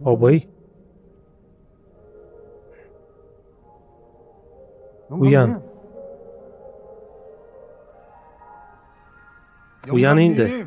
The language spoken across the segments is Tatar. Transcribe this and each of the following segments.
Абый. Уян. Уян инде.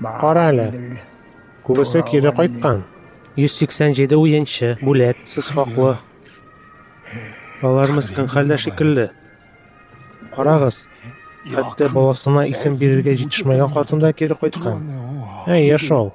Кара әле. Күбесе кире кайткан. 187 уенчы, бүләк, сез хаклы. Алар мескен хәлдә шикелле. Карагыз, хәтта баласына исем бирергә җитешмәгән хатын да кире кайткан. Әйе шул.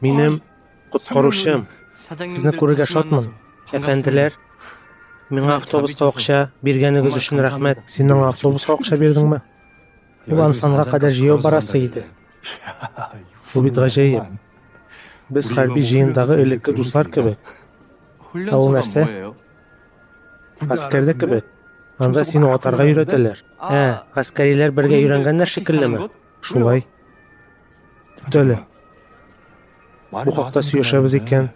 Минем коткаручым. Сезне күрергә шатмын, әфәнделәр. Миңа автобуска акча биргәнегез өчен рәхмәт. Син аңа автобуска акча бирдеңме? Ул Ансанга кадәр җәяү барасы иде. Бу бит гаҗәеп. Без хәрби җыендагы элекке дуслар кебек. Ә ул нәрсә? Гаскәрдә кебек. Анда сине атарга өйрәтәләр. Ә, гаскәриләр бергә өйрәнгәннәр шикеллеме? Шулай. Тәле. Бу хакта сөйләшәбез икән,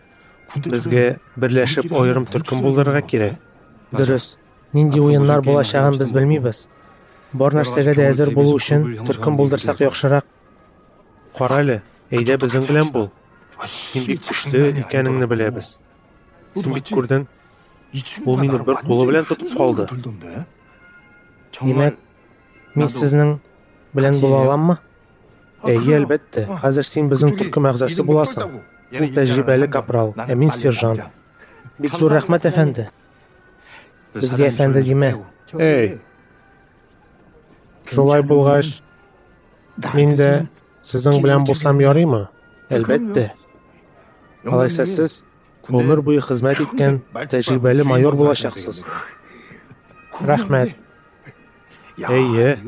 безгә берләшеп аерым төркем булдырырга кирәк. Дөрес. Нинди уеннар булачагын без белмибез. Бар нәрсәгә дә әзер булу өчен төркем булдырсак яхшырак. Кара әле, әйдә безнең белән бул. Син бик көчле икәнеңне беләбез. Син бит күрдең, ул мине бер кулы белән тотып калды. Димәк, мин сезнең белән була аламмы? Әйе, әлбәттә. Хәзер син безнең төркем әгъзасы буласың. Ул тәҗрибәле капрал, ә мин сержант. Бик зур рәхмәт, әфәнде. Безгә әфәнде димә. Әй. Шулай булгач, мин дә сезнең белән булсам ярыймы? Әлбәттә. Алайса сез гомер буе хезмәт иткән тәҗрибәле майор булачаксыз. Рәхмәт. Әйе.